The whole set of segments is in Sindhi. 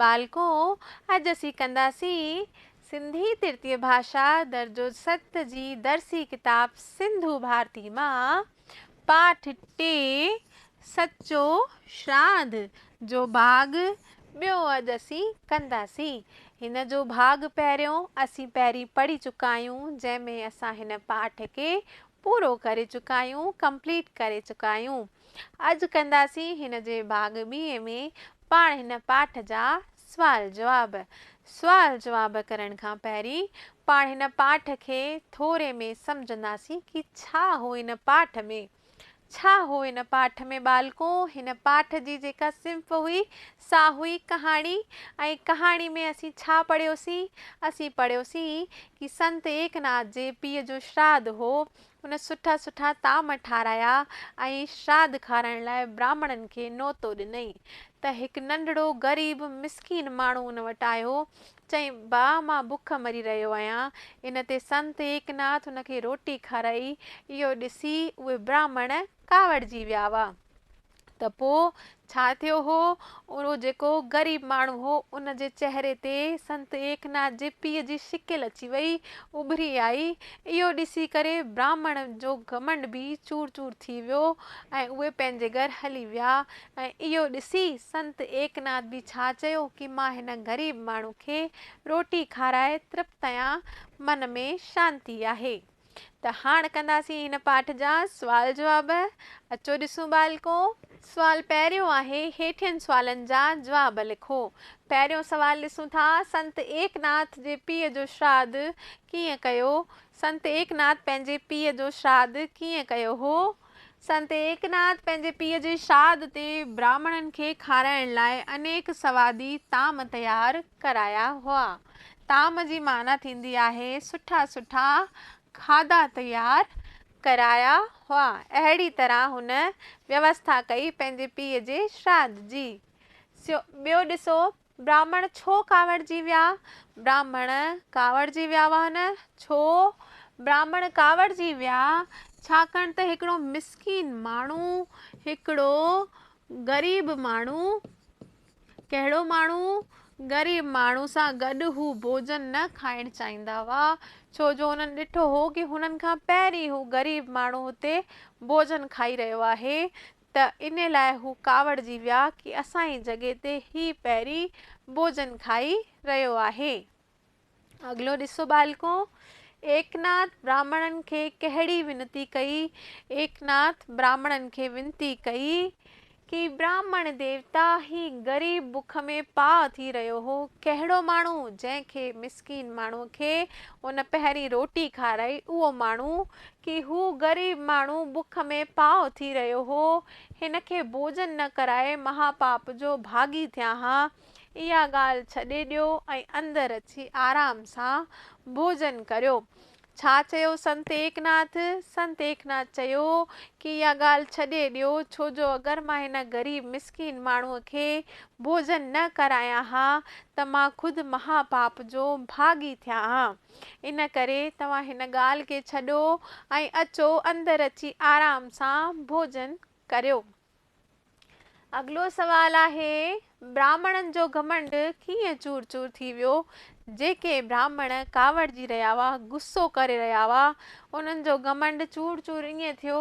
ٻالڪو، اڄ اسين ڪنداسين سنڌي ترتيب ڀاشا درجو ست جي درسي ڪتاب سنڌو ڀارتي مان پاٺ ٽي سچو شراڌ جو ڀاڳ ٻيو اڄ اسين ڪنداسين. هن جو ڀاڳ پهريون اسين پهرين پڙهي چڪا آهيون جنهن ۾ اسان هن پاٺ کي پورو ڪري چڪا آهيون Complete ڪري چڪا آهيون. عرض ڪنداسين هن جي ڀاڳ ٻيء ۾ پاڻ هن پاٺ جا سوال جواب سوال جواب ڪرڻ کان پهرين پاڻ هن پاٺ کي ٿوري ۾ سمجهنداسين ڪي ڇا هو هن پاٺ ۾ ڇا هو هن پاٺ ۾ ٻالڪو هن پاٺ جي جيڪا صنف هئي سا هئي ڪهاڻي ۽ ڪهاڻي ۾ اسين ڇا پڙهيوسين اسين پڙهيوسين ڪي سنت ايڪناٿ جي پيء جو شراڌ هو هن سٺا سٺا طعام ٺارايا ۽ شراڌ کارائڻ لاء براهمڻن کي نوتو ڏنئين ته هڪ ننڍڙو غريب مسڪين ماڻهو ان وٽ آيو، چئي، ڀاء مان بک مري رهيو آهيان. ان تي سنت ايڪناٿ ان کي روٽي کارائي. اهو ڏسي اهي براهمڻ ڪاوڙجي ويا هئا. ته پوء ڇا ٿيو هو؟ اهو جيڪو غريب ماڻهو هو، ان جي چهري تي سنت ايڪناٿ جي پيء جي شڪل اچي وئي، اڀري آئي. اهو ڏسي ڪري براهمڻ جو گهمنڊ به چور چور ٿي ويو ۽ اهي پنهنجي گهر هلي ويا ۽ اهو ڏسي سنت ايڪناٿ به ڇا چيو ڪي مان هن غريب ماڻهو کي روٽي کارائي ترپت آهيان، من ۾ شانتي آهي. ته هاڻ ڪنداسين هن پاٺ جا سوال جواب. اچو ڏسون ٻالڪو! سوال پهريون آهي، هيٺين سوالن جا جواب لکو. پهريون سوال ڏسون ٿا، سنت ايڪناٿ جي پيء جو شراڌ ڪيئن ڪيو؟ سنت ايڪناٿ پنهنجي پيء جو شراڌ ڪيئن ڪيو هو؟ سنت ايڪناٿ پنهنجي پيء جي شاد تي براهمڻن کي کارائڻ لاء انيڪ سوادي طعام تيار ڪرايا هئا. طعام جي معنيٰ ٿيندي آهي سٺا سٺا کاڌا تيار ڪرايا هئا. اهڙي طرح هن ويوسٿا ڪئي پنهنجي پيء جي شراد جي. ٻيو ڏسو براهمڻ ڇو ڪاوڙجي ويا؟ براهمڻ ڪاوڙجي ويا هئا نه؟ ڇو براهمڻ ڪاوڙجي ويا؟ ڇاڪاڻ ته هڪڙو مسڪين ماڻهو، هڪڙو غريب ماڻهو، ڪهڙو ماڻهو؟ غريب ماڻهو سان گڏ هو ڀوڄن نه کائڻ چاهيندا هئا، ڇو جو هنن ڏٺو هو ڪي هنن کان پهرين هو غريب ماڻهو هتي ڀوڄن کائي رهيو آهي، ته ان لاء هو ڪاوڙجي ويا ڪي اسان ئي جڳهه تي هي پهرين ڀوڄن کائي رهيو آهي. اڳلو ڏسو ٻالڪو! ايڪناٿ براهمڻن کي ڪهڙي ونتي ڪئي؟ ايڪناٿ براهمڻن کي ونتي ڪئي ڪي براهمڻ ديوتا هي غريب بک ۾ پاء ٿي رهيو هو، ڪهڙو ماڻهو جنهن کي مسڪين ماڻهو کي ان پهرين روٽي کارائي اهو ماڻهو ڪي هو غريب ماڻهو بک ۾ پاهه ٿي رهيو هو، هن کي ڀوڄن نه ڪرائي مهاپاپ جو ڀاڳي ٿيان ها. اها ڳالهه ڇڏي ڏيو ۽ اندر اچي آرام سان ڀوڄن ڪريو. ڇا چيو سنت ايڪناٿ؟ سنت ايڪناٿ چيو ڪي اها ڳالهه ڇڏي ڏيو، ڇو جو اگر مان هن غريب مسڪين ماڻهوء کي ڀوڄن نه ڪرايان ها ته مان خود مهاپاپ جو ڀاڳي ٿيان ها. ان ڪري توهان هن ڳالهه کي ڇڏو ۽ اچو اندر اچي آرام سان ڀوڄن ڪريو. اڳلو سوال آهي، براهمڻن جو گهمنڊ ڪيئن چور چور ٿي ويو؟ جيڪي براهمڻ ڪاوڙجي رهيا هئا، غصو ڪري رهيا هئا، انهن جو گهمنڊ چور چور ائين ٿيو،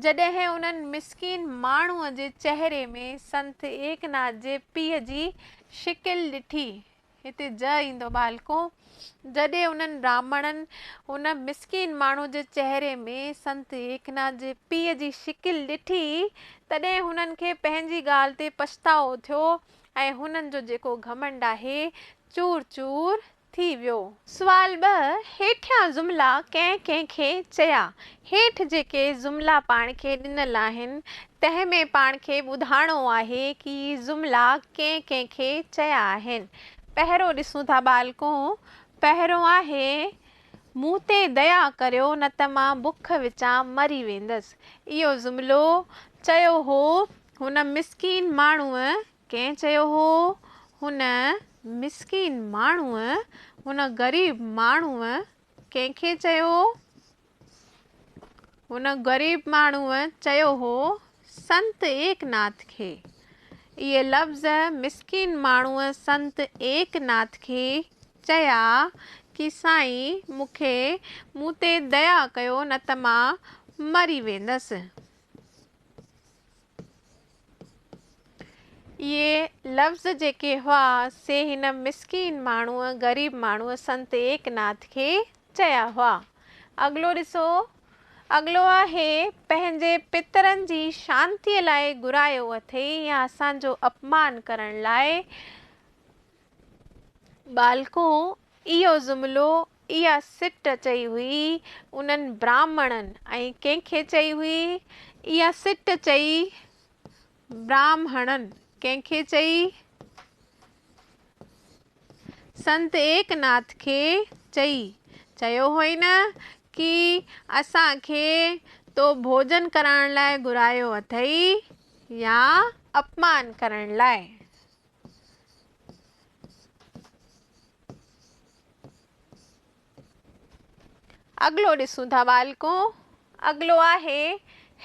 جڏهن انهن مسڪين ماڻهوء جي چهري ۾ سنت ايڪناٿ جي پيء جي شڪل ڏٺي، هتي جء ايندو ٻالڪو! جڏهن انهن براهمڻن هن مسڪين ماڻهو جي چهري ۾ سنت ايڪناٿ جي پيء جي شڪل ڏٺي، تڏهن هنن کي پنهنجي ڳالهه تي پڇتاء ٿيو ۽ هنن جو جيڪو گهمنڊ آهي، چور چور ٿي ويو. سوال ٻه، هيٺيان جملا ڪنهن ڪنهن کي چيا؟ هيٺ جيڪي جملا پاڻ کي ڏنل آهن، تنهن ۾ پاڻ کي ٻڌائڻو آهي ڪي هي جملا ڪنهن ڪنهن کي چيا آهن. پهريون ڏسون ٿا ٻالڪون، پهريون آهي، مون تي ديا ڪريو نه ته مان بک وچان مري ويندس. اهو جملو چيو هو هن مسڪين ماڻهوء. ڪنهن چيو هو؟ هن مسڪين ماڻهوء، هن غريب ماڻهوء. ڪنهن کي چيو؟ هن غريب ماڻهوء چيو هو سنت ايڪناٿ کي. اهي لفظ مسڪين ماڻهوء سنت ايڪناٿ کي چيا ڪي سائين مون کي مون تي ديا ڪيو نه ته مان مري ويندس. اهي لفظ جيڪي هئا، سي هن مسڪين ماڻهوء، غريب ماڻهوء سنت ايڪناٿ کي چيا هئا. اڳلو ڏسو. اڳلو آهي، پنهنجي پترن جي شانتيء لاء گهرايو اٿئي يا اسان جو اپمان ڪرڻ لاء ٻالڪون اهو جملو، اها سٽ چئي هئي، انهن براهمڻن ۽ ڪنهن کي چئي هئي؟ اها سٽ چئي براهمڻن ڪنهن کي چئي؟ سنت ايڪناٿ کي چئي. چيو هئي نه ڪي اسان کي تو ڀوڄن ڪرائڻ لاء گهرايو اٿئي يا اپمان ڪرڻ لاء. اڳلو ڏسون ٿا ٻالڪو، اڳلو آهي،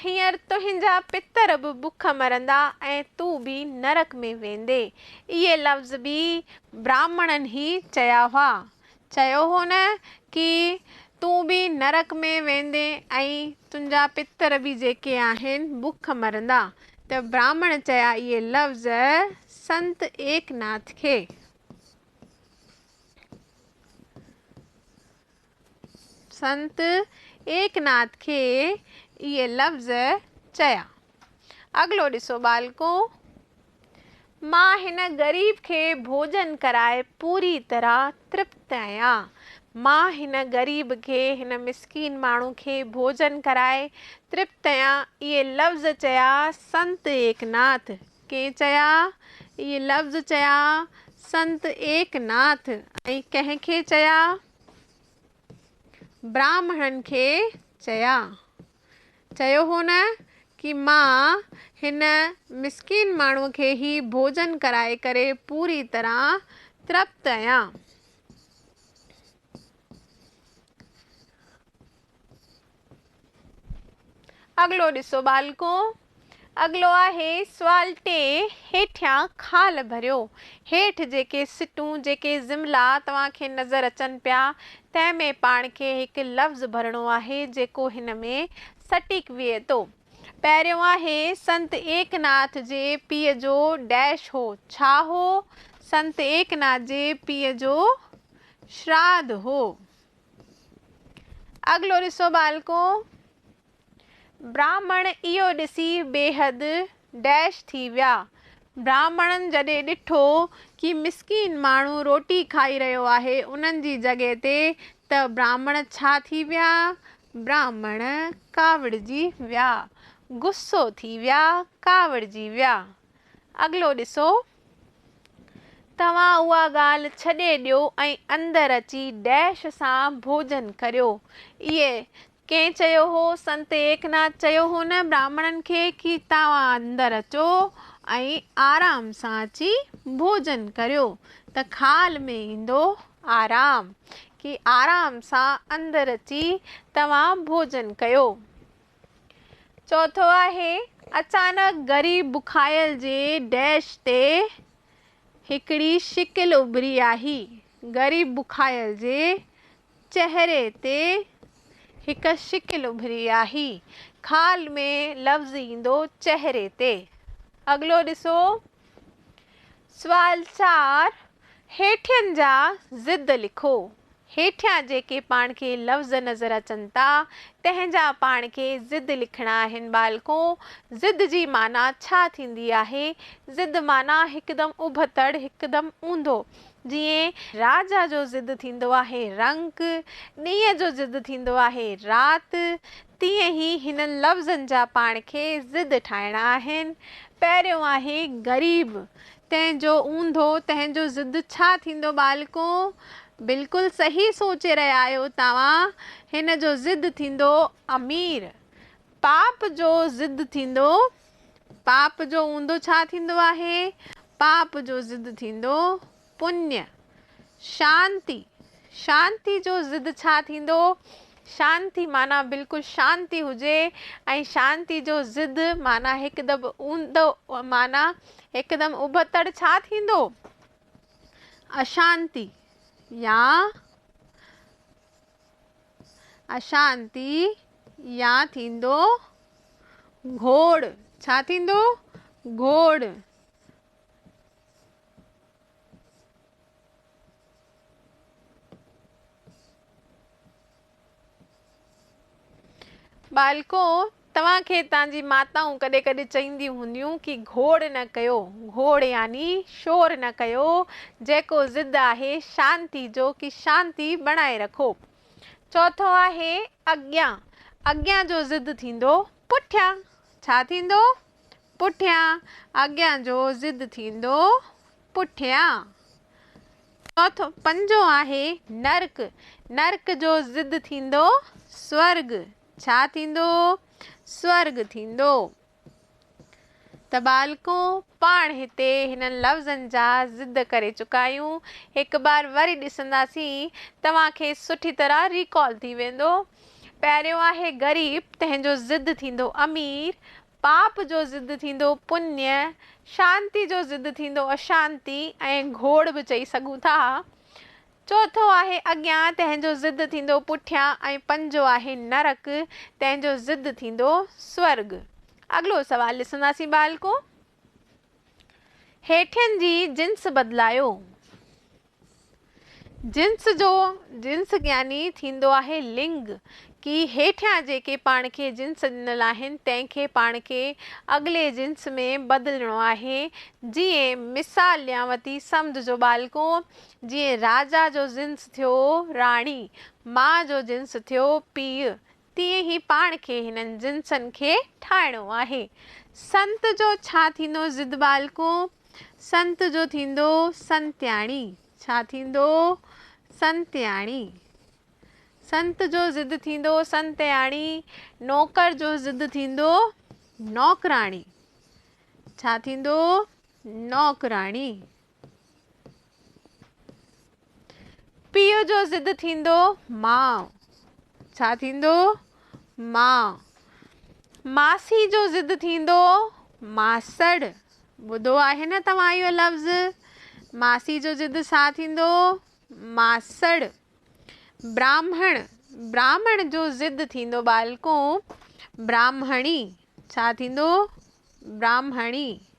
هينئر تنهنجا پتر به بک مرندا ۽ تون به نرڪ ۾ ويندين. اهي لفظ به براهمڻن ئي چيا هئا. چيو هو نه ڪي تون به نرڪ ۾ ويندين ۽ تنهنجا پتر به جيڪي آهن بک مرندا ته براهمڻ چيا اهي لفظ سنت ايڪناٿ کي. سنت ايڪناٿ کي اهي لفظ چيا. اڳلو ڏسو ٻالڪو! مان هن غريب کي ڀوڄن ڪرائي پوري طرح ترپت آهيان. مان هن غريب کي، هن مسڪين ماڻهو کي ڀوڄن ڪرائي ترپت آهيان. اهي لفظ چيا سنت ايڪناٿ. ڪنهن چيا؟ اهي لفظ چيا سنت ايڪناٿ. ۽ ڪنهن کي چيا؟ براهمڻن کي چيا. چيو هو نه ڪي مان هن مسڪين ماڻهو کي هي ڀوڄن ڪرائي ڪري پوري طرح ترپت اهيان. اڳلو ڏسو ٻالڪو! اڳلو آهي سوال ٽي، هيٺيان خال ڀريو. هيٺ جيڪي سٽون، جيڪي جملا توهان کي نظر اچن پيا، تنهن ۾ پاڻ کي هڪ لفظ ڀرڻو آهي، جيڪو هن ۾ سٽيڪ ويهي ٿو. پهريون آهي، سنت ايڪناٿ جي پيء جو ڊيش هو. ڇا هو؟ سنت ايڪناٿ جي پيء جو شراڌ هو. اڳلو ڏسو ٻالڪو. براهمڻ اهو ڏسي بيحد ڊيش ٿي ويا. براهمڻن جڏهن ڏٺو ڪي مسڪين ماڻهو روٽي کائي رهيو آهي انهن جي جڳهه تي ته براهمڻ ڇا ٿي ويا؟ براهمڻ ڪاوڙجي ويا. غصو ٿي ويا. ڪاوڙجي ويا. اڳلو ڏسو. توهان اها ڳالهه ڇڏي ڏيو ۽ اندر اچي ڊيش سان ڀوڄن ڪريو. اهي ڪنهن چيو هو؟ سنت ايڪناٿ چيو هو نه براهمڻن کي ڪي توهان اندر اچو ۽ آرام سان اچي ڀوڄن ڪريو ته خال ۾ ايندو آرام، ڪي آرام سان اندر اچي توهان ڀوڄن ڪيو. چوٿو آهي، اچانڪ ڳري بکايل جي ڊيش تي هڪڙي شڪل اڀري آهي، ڳري بکايل جي چهري تي هڪ شڪل اڀري آهي. خال ۾ لفظ ايندو چهري تي. اڳلو ڏسو. سوال چار، هيٺين جا ضد لکو. هيٺيان جيڪي پاڻ کي لفظ نظر اچن ٿا، تنهن جا پاڻ کي ضد لکڻا آهن ٻالڪو! ضد جي معنيٰ ڇا ٿيندي آهي؟ ضد معنيٰ هڪدم اڀتڙ، هڪدم اونڌو. جيئن راجا جو ضد ٿيندو آهي رنگ، ڏينهن جو ضد ٿيندو آهي رات، تيئن ئي هنن لفظن جا پاڻ کي ضد ٺاهڻا آهن. پهريون آهي غريب، تنهن جو اونڌو، تنهن جو ضد ڇا ٿيندو ٻالڪو؟ بلڪل صحيح سوچي رهيا آهيو توهان، هن جو ضد ٿيندو امير، پاپ جو ضد ٿيندو پاپ جو اوندو ڇا ٿيندو آهي؟ پاپ جو ضد ٿيندو پڃ. شانتي، شانتي جو ضد ڇا ٿيندو؟ شانتي معنيٰ بلڪل شانتي هجي ۽ شانتي جو ضد معنيٰ هڪدم اوندو معنيٰ هڪدم ابتڙ ڇا ٿيندو؟ اشانتي يا اشانتي يا ٿيندو گهوڙ، ڇا ٿيندو؟ گهوڙ. ٻالڪو توهان کي تان جي ماتائون ڪڏهن ڪڏهن چئينديون هونديون ڪي گهوڙ نه ڪيو، گهوڙ يعني شور نه ڪيو، جيڪو ضد آهي شانتي جو ڪي شانتي بڻائي رکو. چوٿون آهي اڳيان، اڳيان جو ضد ٿيندو پٺيان، ڇا ٿيندو؟ پٺيان، اڳيان جو ضد ٿيندو پٺيان. چوٿون، پنجون آهي نرڪ، نرڪ جو ضد ٿيندو سورڳ، ڇا ٿيندو؟ سورڳ ٿيندو. ته ٻالڪون پاڻ هتي هنن لفظن جا ضد ڪري چڪا آهيون. هڪ بار وري ڏسنداسين. توهان کي سٺي طرح ريڪال ٿي ويندو. پهريون آهي غريب، تنهن جو ضد ٿيندو امير. پاپ جو ضد ٿيندو پڃ. شانتي جو ضد ٿيندو اشانتي ۽ گهوڙ به چئي سگهون ٿا. چوٿون آهي اڳيان، تنهن جو ضد ٿيندو پٺيان ۽ پنجون آهي نرڪ، تنهن جو ضد ٿيندو سورڳ. اڳلو سوال ڏسنداسين ٻالڪو. هيٺين جي جنس بدلايو. جنس جو جنس يعني ٿيندو آهي لنگ. ڪي هيٺيان جيڪي پاڻ کي جنس ڏنل آهن، تنهن کي پاڻ کي اڳلي جنس ۾ بدلڻو آهي. جيئن مثال ڏيانوتي سمجهجو ٻالڪو، جيئن راجا جو جنس ٿيو راڻي، ماء جو جنس ٿيو پيء، تيئن ئي پاڻ کي هنن جنسن کي ٺاهڻو آهي. سنت جو ڇا ٿيندو ضد ٻالڪو؟ سنت جو ٿيندو سنتياڻي. ڇا ٿيندو؟ سنتياڻي. سنت جو ضد ٿيندو سنتياڻي. نوڪر جو ضد ٿيندو نوڪراڻي. ڇا ٿيندو؟ نوڪراڻي. پيء جو ضد ٿيندو ماء ڇا ٿيندو ماء ماسي جو ضد ٿيندو ماسڙ ٻڌو آهي نه توهان اهو لفظ ماسي جو ضد ڇا ٿيندو ماسڙ براهمڻ براهمڻ جو ضد ٿيندو ٻالڪو براهمڻي ڇا ٿيندو براهمڻي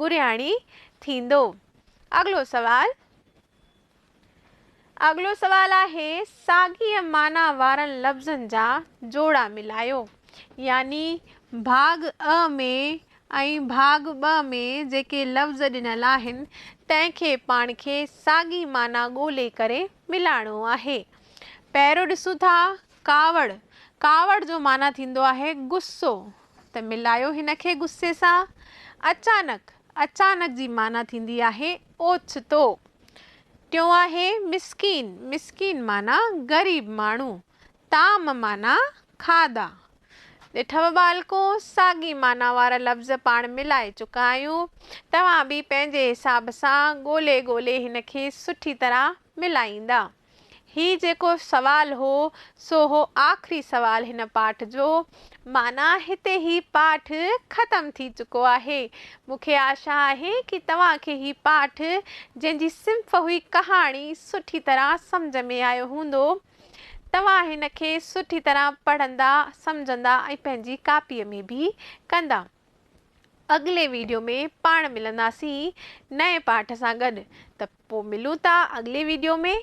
گرياڻي ٿيندو. اڳلو سوال اڳلو سوال آهي ساڳيء معنيٰ وارن لفظن جا جوڙا ملايو. يعني ڀاڳ اء ۾ ۽ ڀاڳ ٻه ۾ جيڪي لفظ ڏنل آهن، تنهن کي پاڻ کي ساڳي معنيٰ ڳولي ڪري ملائڻو آهي. پهريون ڏسون ٿا ڪاوڙ، ڪاوڙ جو معنيٰ ٿيندو آهي غصو، ته ملايو هن کي غصي سان. اچانڪ، اچانڪ جي معنيٰ ٿيندي آهي اوچتو. ٽيون آهي مسڪين، مسڪين معنيٰ غريب ماڻهو. طعام معنيٰ کاڌا. ڏٺو ٻالڪو، ساڳي معنيٰ وارا لفظ پاڻ ملائي چڪا آهيون، توهان به پنهنجي حساب سان ڳولي ڳولي هن کي سٺي طرح ملائيندا. هي جيڪو سوال هو، سو هو آخري سوال هن پاٺ جو. معنيٰ هتي هي پاٺ ختم ٿي چڪو آهي. مون کي آشا آهي ڪي توهان کي هي پاٺ، جنهن جي صنف هئي ڪهاڻي، سٺي طرح سمجهه ۾ آيو هوندو. توهان هن کي سٺي طرح پڙهندا، سمجهندا ۽ پنهنجي ڪاپيء ۾ به ڪندا. اڳلي ويڊيو ۾ پاڻ ملنداسين نئين پاٺ سان گڏ. ته پوء ملون ٿا اڳلي ويڊيو ۾.